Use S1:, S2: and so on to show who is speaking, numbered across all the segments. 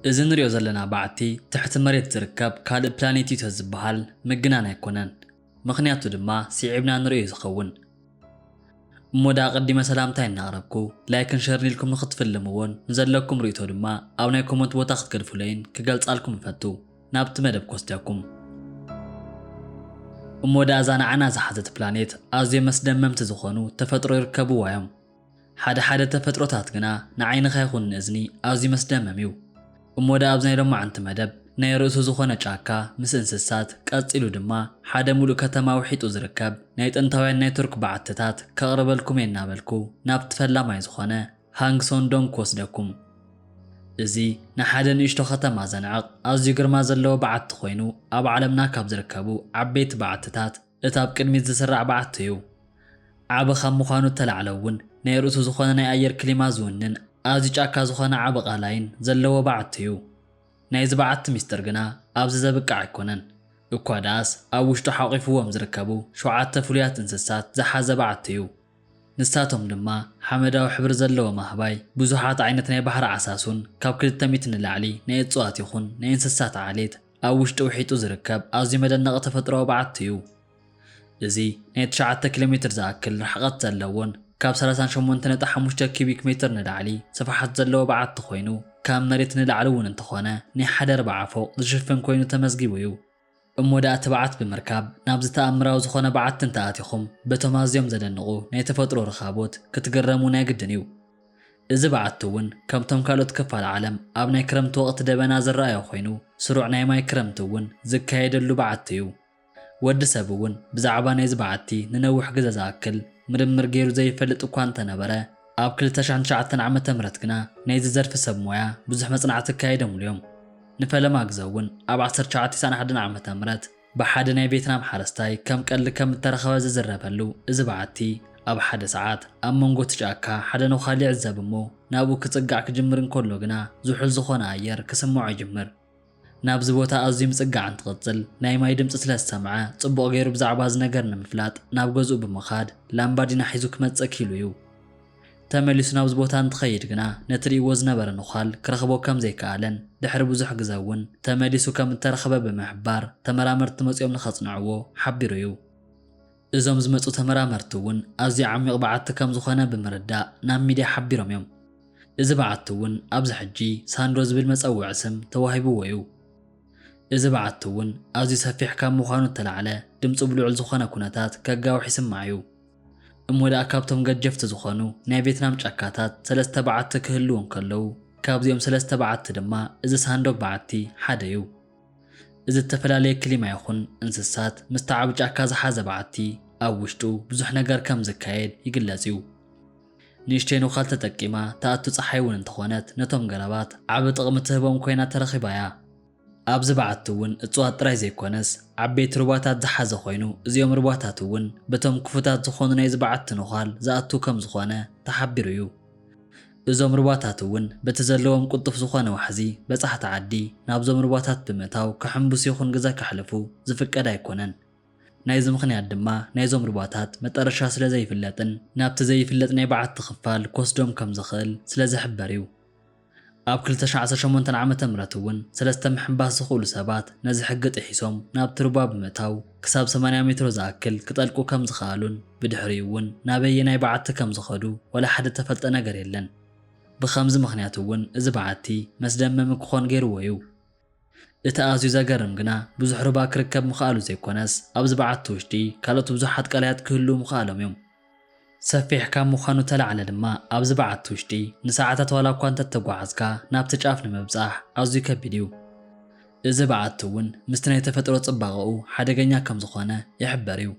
S1: እዚ ንሪኦ ዘለና በዓቲ ትሕቲ መሬት ዝርከብ ካልእ ፕላኔት እዩ ተዝበሃል ምግናን ኣይኮነን። ምኽንያቱ ድማ ሲዒብና ንሪኦ እዩ ዝኸውን። እሞ ደኣ ኣቐዲመ ሰላምታይ እናቕረብኩ ላይክን ሸርን ኢልኩም ንኽትፍልምዎን ንዘለኩም ርኢቶ ድማ ኣብ ናይ ኮመንት ቦታ ክትገድፉለይን ክገልጻልኩም እፈቱ። ናብቲ መደብ ክወስደኩም። እሞ ደኣ እዛ ንዓና ዝሓዘት ፕላኔት ኣዝዮም መስደመምቲ ዝኾኑ ተፈጥሮ ይርከብዋ እዮም። ሓደ ሓደ ተፈጥሮታት ግና ንዓይንኻ ይኹን ንእዝኒ ኣዝዩ መስደመም እዩ። እሞ ደኣ ኣብዚ ናይ ሎማዕንቲ መደብ ናይ ርእሱ ዝኾነ ጫካ ምስ እንስሳት ቀጺሉ ድማ ሓደ ምሉእ ከተማ ውሒጡ ዝርከብ ናይ ጥንታውያን ናይ ቱርክ በዓትታት ከቕርበልኩም እየ እናበልኩ ናብቲ ፈላማይ ዝኾነ ሃንግሶንዶም ክወስደኩም። እዚ ንሓደ ንእሽቶ ከተማ ዘንዕቕ ኣዝዩ ግርማ ዘለዎ በዓቲ ኮይኑ ኣብ ዓለምና ካብ ዝርከቡ ዓበይቲ በዓትታት እቲ ኣብ ቅድሚት ዝስራዕ በዓቱ'ዩ። ዓቢ ካብ ምዃኑ እተላዕለ'ውን ናይ ርእሱ ዝኾነ ናይ ኣየር ክሊማ ዝውንን ኣዝዩ ጫካ ዝኾነ ዓቢ ቃላይን ዘለዎ በዓቱ'ዩ። ናይዚ በዓቲ ምስጢር ግና ኣብዚ ዘብቅዕ ኣይኮነን። እኳ ደኣስ ኣብ ውሽጡ ሓቝፉዎም ዝርከቡ ሸውዓተ ፍሉያት እንስሳት ዝሓዘ በዓቱ'ዩ። ንሳቶም ድማ ሓመዳዊ ሕብሪ ዘለዎም ኣህባይ፣ ብዙሓት ዓይነት ናይ ባሕሪ ዓሳሱን ካብ ክልተ ሚእቲ ንላዕሊ ናይ እጽዋት ይኹን ናይ እንስሳት ዓሌት፣ ኣብ ውሽጢ ውሒጡ ዝርከብ ኣዝዩ መደነቒ ተፈጥሮኣዊ በዓቲ እዩ። እዚ ናይ ትሽዓተ ኪሎ ሜትር ዝኣክል ርሕቐት ዘለዎን ካብ ሰላሳን ሸሞንተ ነጥቢ ሓሙሽተ ኪዩቢክ ሜትር ንላዕሊ ስፍሓት ዘለዎ በዓቲ ኮይኑ ካብ መሬት ንላዕሊ እውን እንተኾነ ናይ ሓደ ኣርብዓ ፎቕ ዝሽፍን ኮይኑ ተመዝጊቡ እዩ። እሞ ደኣ ትብዓት ብምርካብ ናብዚ ተኣምራዊ ዝኾነ በዓቲ እንተኣቲኹም በቶም ኣዝዮም ዘደንቑ ናይ ተፈጥሮ ርኻቦት ክትግረሙ ናይ ግድን እዩ። እዚ በዓቲ እውን ከምቶም ካልኦት ክፋል ዓለም ኣብ ናይ ክረምቲ ወቕቲ ደበና ዝረኣዮ ኮይኑ ስሩዕ ናይ ማይ ክረምቲ እውን ዝካየደሉ በዓቲ እዩ። ወዲ ሰብ እውን ብዛዕባ ናይዚ በዓቲ ንነዊሕ ግዘ ዝኣክል ምርምር ገይሩ ዘይፈልጥ እኳ እንተነበረ ኣብ ክልተ ሽሕን ትሽዓተን ዓመተ ምህረት ግና ናይዚ ዘርፊ ሰብ ሞያ ብዙሕ መፅናዕቲ ኣካይደምሉ እዮም። ንፈለማ ግዘ እውን ኣብ ዓሰርተ ትሽዓተ ኢሳን ሓደን ዓመተ ምህረት ብሓደ ናይ ቬትናም ሓረስታይ ከም ቀልዲ ከም እተረኽበ ዝዝረበሉ እዚ በዓቲ፣ ኣብ ሓደ ሰዓት፣ ኣብ መንጎ እቲ ጫካ ሓደ ነዃል ይዕዘብ እሞ ናብኡ ክጽጋዕ ክጅምር እንከሎ ግና ዝሑል ዝዀነ ኣየር ክስምዖ ይጅምር። ናብዚ ቦታ ኣዝዩ ምጽጋዕ እንትቕጽል፣ ናይ ማይ ድምጺ ስለ ዝሰምዐ፣ ጽቡቕ ገይሩ ብዛዕባ እዚ ነገር ንምፍላጥ ናብ ገዝኡ ብምኻድ ላምባዲና ሒዙ ክመጽእ ክኢሉ እዩ። ተመሊሱ ናብዚ ቦታ እንትኸይድ ግና ነቲ ርእይዎ ዝነበረ ነዃል ክረኽቦ ከም ዘይከኣለን ድሕሪ ብዙሕ ግዘ እውን ተመሊሱ ከም እተረኽበ ብምሕባር ተመራመርቲ መፂኦም ንኸፅንዕዎ ሓቢሩ እዩ። እዞም ዝመፁ ተመራመርቲ እውን ኣዝዩ ዓሚቕ በዓቲ ከም ዝኾነ ብምርዳእ ናብ ሚድያ ሓቢሮም እዮም። እዚ በዓቲ እውን ኣብዚ ሕጂ ሳንድሮ ዝብል መፀውዒ ስም ተዋሂብዎ እዩ። እዚ በዓቲ እውን ኣዝዩ ሰፊሕ ካብ ምዃኑ እተላዕለ ድምፁ ብልዑል ዝኾነ ኩነታት ከጋውሕ ይስማዕ እዩ። እሞ ደኣ ካብቶም ገጀፍቲ ዝኾኑ ናይ ቬትናም ጫካታት ሰለስተ በዓቲ ክህልዉ እንከለዉ፣ ካብዚኦም ሰለስተ በዓቲ ድማ እዚ ሳንዶግ በዓቲ ሓደ'ዩ። እዚ እተፈላለየ ክሊማ ይኹን እንስሳት ምስቲ ዓቢ ጫካ ዝሓዘ በዓቲ ኣብ ውሽጡ ብዙሕ ነገር ከም ዝካየድ ይግለጽ'ዩ። ንእሽተይ ኖኻል ተጠቂማ ትኣቱ ጸሓይ'ውን እንተኾነት ነቶም ገረባት ዓቢ ጥቕሚ ትህቦም ኮይና ተረኺባ'ያ። ኣብዚ በዓቲ እውን እፅዋት ጥራይ ዘይኮነስ ዓበይቲ ሩባታት ዝሓዘ ኮይኑ እዚኦም ሩባታት እውን በቶም ክፉታት ዝኾኑ ናይዚ በዓቲ ነዃል ዝኣትው ከም ዝኾነ ተሓቢሩ እዩ። እዞም ሩባታት እውን በቲ ዘለዎም ቅልጡፍ ዝኾነ ዋሕዚ በፃሕቲ ዓዲ ናብዞም ሩባታት ብምእታው ክሕምብሱ ይኹን ግዘ ከሕልፉ ዝፍቀድ ኣይኮነን። ናይዚ ምኽንያት ድማ ናይዞም ሩባታት መጠረሻ ስለ ዘይፍለጥን ናብቲ ዘይፍለጥ ናይ በዓቲ ክፋል ክወስዶም ከም ዝኽእል ስለ ዝሕበር እዩ። ኣብ ክልተ ሽሕ ዓሰርተ ሸሞንተ ዓመተ ምህረት እውን ሰለስተ ምሕንባስ ዝኽእሉ ሰባት ነዚ ሕጊ ጥሒሶም ናብቲ ሩባ ብምእታው ክሳብ ሰማንያ ሜትሮ ዝኣክል ክጠልቁ ከም ዝኸኣሉን ብድሕሪኡ እውን ናበየናይ በዓቲ ከም ዝኸዱ ዋላ ሓደ እተፈልጠ ነገር የለን። ብኸምዚ ምኽንያት እውን እዚ በዓቲ መስደመሚ ክኾን ገይርዎ እዩ። እቲ ኣዝዩ ዘገርም ግና ብዙሕ ሩባ ክርከብ ምኽኣሉ ዘይኮነስ ኣብዚ በዓቲ ውሽጢ ካልኦት ብዙሓት ቀላያት ክህልዉ ምኽኣሎም እዩ። ሰፊሕ ካብ ምዃኑ ተላዕለ ድማ ኣብዚ በዓቲ ውሽጢ ንሰዓታት ዋላ እኳ እንተተጓዓዝካ ናብቲ ጫፍ ንምብጻሕ ኣዝዩ ከቢድ እዩ። እዚ በዓቲ እውን ምስቲ ናይ ተፈጥሮ ጽባቐኡ ሓደገኛ ከም ዝኾነ ይሕበር እዩ።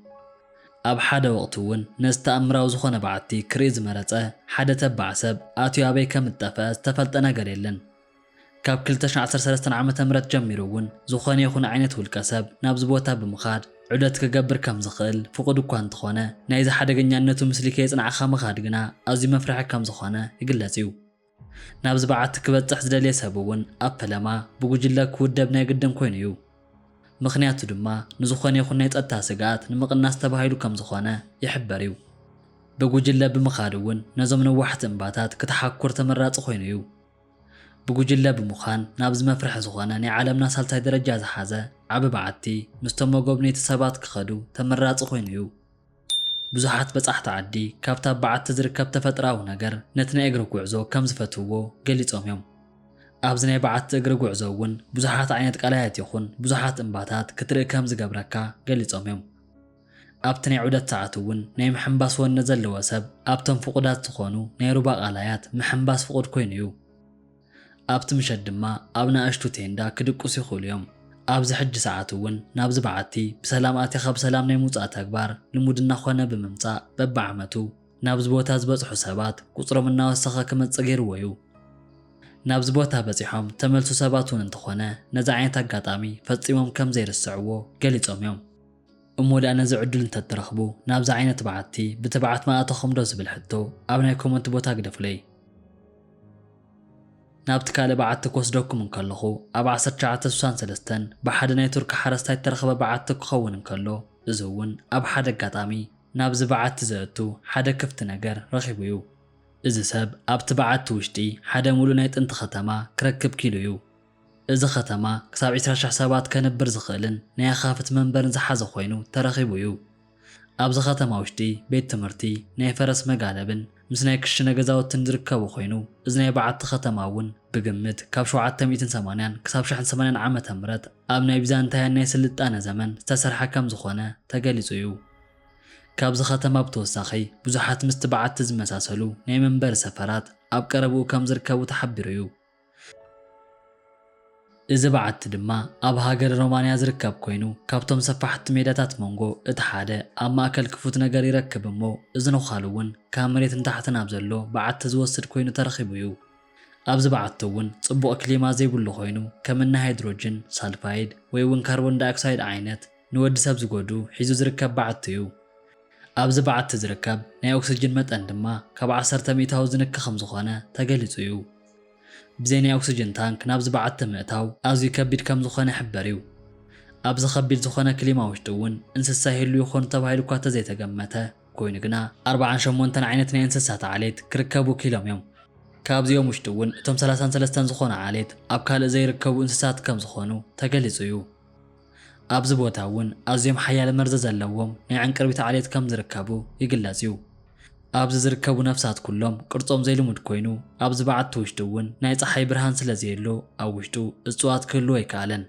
S1: ኣብ ሓደ ወቕቲ እውን ነዚ ተኣምራዊ ዝኾነ በዓቲ ክርኢ ዝመረጸ ሓደ ተባዕ ሰብ ኣትዩ ኣበይ ከም እትጠፍአ ዝተፈልጠ ነገር የለን። ካብ ክልተ ሽሕ ዓሰርተ ሰለስተ ዓመተ ምህረት ጀሚሩ እውን ዝኾነ ይኹን ዓይነት ውልቀ ሰብ ናብዚ ቦታ ብምኻድ ዑደት ክገብር ከም ዝኽእል ፍቑድ እኳ እንተኾነ ናይዚ ሓደገኛነቱ ምስሊ ከየፅናዕኻ ምኻድ ግና ኣዝዩ መፍርሒ ከም ዝኾነ ይግለፅ እዩ። ናብዚ በዓቲ ክበፅሕ ዝደልየ ሰብ እውን ኣብ ፈለማ ብጉጅለ ክውደብ ናይ ግድን ኮይኑ እዩ። ምኽንያቱ ድማ ንዝኾነ ይኹን ናይ ፀጥታ ስግኣት ንምቕናስ ተባሂሉ ከም ዝኾነ ይሕበር እዩ። ብጉጅለ ብምኻድ እውን ነዞም ነዋሕቲ እምባታት ክትሓኩር ተመራፂ ኮይኑ እዩ። ብጉጅለ ብምዃን ናብዚ መፍርሒ ዝኾነ ናይ ዓለምና ሳልሳይ ደረጃ ዝሓዘ ዓቢ በዓቲ ምስቶም መጎብነይቲ ሰባት ክኸዱ ተመራጺ ኮይኑ እዩ። ብዙሓት በጻሕቲ ዓዲ ካብቲ ኣብ በዓቲ ዝርከብ ተፈጥራዊ ነገር ነቲ ናይ እግሪ ጉዕዞ ከም ዝፈትውዎ ገሊጾም እዮም። ኣብዚ ናይ በዓቲ እግሪ ጉዕዞ እውን ብዙሓት ዓይነት ቀላያት ይኹን ብዙሓት እምባታት ክትርኢ ከም ዝገብረካ ገሊጾም እዮም። ኣብቲ ናይ ዑደት ሰዓት እውን ናይ ምሕንባስ ወኒ ዘለዎ ሰብ ኣብተን ፍቑዳት ዝኾኑ ናይ ሩባ ቃላያት ምሕንባስ ፍቑድ ኮይኑ እዩ። ኣብቲ ምሸት ድማ ኣብ ናእሽቱ ቴንዳ ክድቅሱ ይኽእሉ እዮም። ኣብዚ ሕጂ ሰዓት እውን ናብዚ በዓቲ ብሰላም ኣቲኻ ብሰላም ናይ ምውጻእ ተግባር ልሙድ እናኾነ ብምምጻእ በብዓመቱ ናብዚ ቦታ ዝበጽሑ ሰባት ቁጽሮም እናወሰኸ ክመጽእ ገይርዎ እዩ። ናብዚ ቦታ በጺሖም ዝተመልሱ ሰባት እውን እንተኾነ ነዚ ዓይነት ኣጋጣሚ ፈጺሞም ከምዘይርስዕዎ ገሊጾም እዮም። እሞ ድኣ ነዚ ዕዱል እንተ እትረኽቡ ናብዚ ዓይነት በዓቲ ብትብዓት ምኣተኹም ዶ ዝብል ሕቶ ኣብ ናይ ኮመንት ቦታ ግደፉለይ። ናብቲ ካልእ በዓቲ ክወስደኩም እንከለኹ ኣብ ዓሰርተ ትሽዓተ ስሳን ሰለስተን ብሓደ ናይ ቱርኪ ሓረስታይ እተረኽበ በዓቲ ክኸውን እንከሎ እዚ እውን ኣብ ሓደ ኣጋጣሚ ናብዚ በዓቲ ዘእቱ ሓደ ክፍቲ ነገር ረኺቡ እዩ። እዚ ሰብ ኣብቲ በዓቲ ውሽጢ ሓደ ሙሉእ ናይ ጥንቲ ከተማ ክረክብ ኪኢሉ እዩ። እዚ ከተማ ክሳብ ዕስራ ሽሕ ሰባት ከንብር ዝኽእልን ናይ ኣኻፍት መንበርን ዝሓዘ ኮይኑ ተረኺቡ እዩ። ኣብዚ ከተማ ውሽጢ ቤት ትምህርቲ፣ ናይ ፈረስ መጋለብን ምስ ናይ ክሽነ ገዛውትን ዝርከቡ ኮይኑ እዚ ናይ በዓቲ ከተማ እውን ብግምት ካብ ሸውዓተ ሚእትን ሰማንያን ክሳብ ሽሕን ሰማንያን ዓመተ ምህረት ኣብ ናይ ቢዛንታያን ናይ ስልጣነ ዘመን ዝተሰርሐ ከም ዝኾነ ተገሊፁ እዩ። ካብዚ ከተማ ብተወሳኺ ብዙሓት ምስቲ በዓቲ ዝመሳሰሉ ናይ መንበሪ ሰፈራት ኣብ ቀረብኡ ከም ዝርከቡ ተሓቢሩ እዩ። እዚ በዓቲ ድማ ኣብ ሃገረ ሮማንያ ዝርከብ ኮይኑ ካብቶም ሰፋሕቲ ሜዳታት ሞንጎ እቲ ሓደ ኣብ ማእከል ክፉት ነገር ይረክብ እሞ እዚ ነዃሉ እውን ካብ መሬት ንታሕቲ ናብ ዘሎ በዓቲ ዝወስድ ኮይኑ ተረኺቡ እዩ። ኣብዚ በዓቲ እውን ጽቡቕ ክሊማ ዘይብሉ ኮይኑ ከም እኒ ሃይድሮጅን ሳልፋይድ ወይ እውን ካርቦን ዳይኦክሳይድ ዓይነት ንወዲ ሰብ ዝጎድኡ ሒዙ ዝርከብ በዓቲ እዩ። ኣብዚ በዓቲ ዝርከብ ናይ ኦክስጅን መጠን ድማ ካብ ዓሰርተ ሚእታዊ ዝንኪ ከም ዝኾነ ተገሊጹ እዩ። ብዘይ ናይ ኦክስጅን ታንክ ናብዚ በዓቲ ምእታው ኣዝዩ ከቢድ ከም ዝኾነ ይሕበር እዩ። ኣብዚ ከቢድ ዝኾነ ክሊማ ውሽጢ እውን እንስሳ ይህሉ ይኾኑ ተባሂሉ እኳ ተዘይተገመተ ኮይኑ ግና ኣርባዓን ሸሞንተን ዓይነት ናይ እንስሳት ዓሌት ክርከቡ ክኢሎም እዮም። ካብዚኦም ውሽጢ እውን እቶም ሰላሳን ሰለስተን ዝኾኑ ዓሌት ኣብ ካልእ ዘይርከቡ እንስሳት ከም ዝኾኑ ተገሊፁ እዩ። ኣብዚ ቦታ እውን ኣዝዮም ሓያል መርዚ ዘለዎም ናይ ዕንቅርቢት ዓሌት ከም ዝርከቡ ይግለጽ እዩ። ኣብዚ ዝርከቡ ነፍሳት ኩሎም ቅርጾም ዘይልሙድ ኮይኑ፣ ኣብዚ በዓቲ ውሽጢ እውን ናይ ጸሓይ ብርሃን ስለ ዘየሎ ኣብ ውሽጡ እጽዋት ክህልው ኣይከኣለን።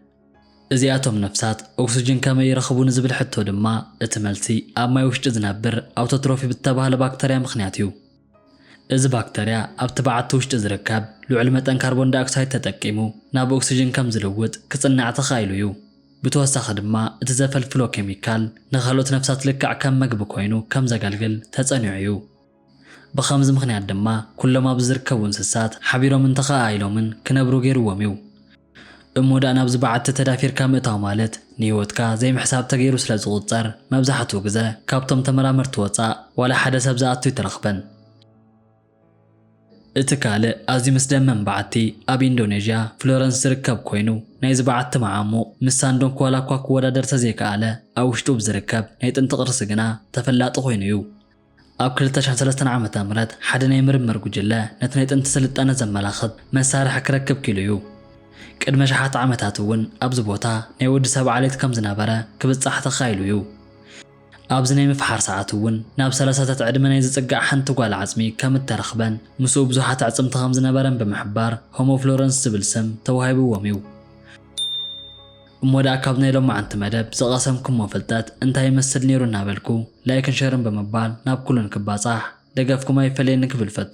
S1: እዚኣቶም ነፍሳት ኦክስጅን ከመይ ይረኽቡ ንዝብል ሕቶ ድማ እቲ መልሲ ኣብ ማይ ውሽጢ ዝነብር ኣውቶትሮፊ ብዝተባህለ ባክተርያ ምኽንያት እዩ። እዚ ባክተርያ ኣብቲ በዓቲ ውሽጢ ዝርከብ ልዑል መጠን ካርቦን ዳይኦክሳይድ ተጠቂሙ ናብ ኦክስጅን ከም ዝልውጥ ክጽናዕ ተኻኢሉ እዩ። ብተወሳኺ ድማ እቲ ዘፈልፍሎ ኬሚካል ንኻልኦት ነፍሳት ልክዕ ከም መግቢ ኮይኑ ከም ዘገልግል ተጸኒዑ እዩ። ብኸምዚ ምኽንያት ድማ ኩሎም ኣብዚ ዝርከቡ እንስሳት ሓቢሮምን ተኸኣኢሎምን ክነብሩ ገይርዎም እዩ። እሞ ደኣ ናብዚ በዓቲ ተዳፊርካ ምእታው ማለት ንህይወትካ ዘይምሕሳብ ተገይሩ ስለ ዝቑጸር፣ መብዛሕትኡ ግዘ ካብቶም ተመራመርቲ ወጻእ ዋላ ሓደ ሰብ ዝኣቱ ኣይተረኽበን። እቲ ካልእ ኣዝዩ ምስደመም በዓቲ ኣብ ኢንዶነዥያ ፍሎረንስ ዝርከብ ኮይኑ፣ ናይዚ በዓቲ መዓሙቕ ምስ ሳንዶንክ ዋላኳ ክወዳደር ተዘይከኣለ ኣብ ውሽጡ ብዝርከብ ናይ ጥንቲ ቅርሲ ግና ተፈላጢ ኮይኑ እዩ። ኣብ ክልተ ሽሕን ሰለስተን ዓመተ ምህረት ሓደ ናይ ምርምር ጉጅለ ነቲ ናይ ጥንቲ ስልጣነ ዘመላኽት መሳርሒ ክረክብ ኪኢሉ እዩ። ቅድሚ ኣሽሓት ዓመታት እውን ኣብዚ ቦታ ናይ ወዲ ሰብ ዓሌት ከም ዝነበረ ክብጻሕ ተኻኢሉ እዩ። ኣብዚ ናይ ምፍሓር ሰዓት እውን ናብ ሰላሳታት ዕድመ ናይ ዝጽጋዕ ሓንቲ ጓል ዓጽሚ ከም እተረኽበን ምስኡ ብዙሓት ኣዕጽምቲ ከም ዝነበረን ብምሕባር ሆሞ ፍሎረንስ ዝብል ስም ተዋሂብዎም እዩ። እሞ ደኣ ካብ ናይ ሎማዓንቲ መደብ ዝቐሰምኩሞ ፍልጠት እንታይ ይመስል ኔሩ እናበልኩ ላይክን ሸርን ብምባል ናብ ኩሉን ክባጻሕ ደገፍኩም ኣይፈለየኒ ክብል እፈቱ።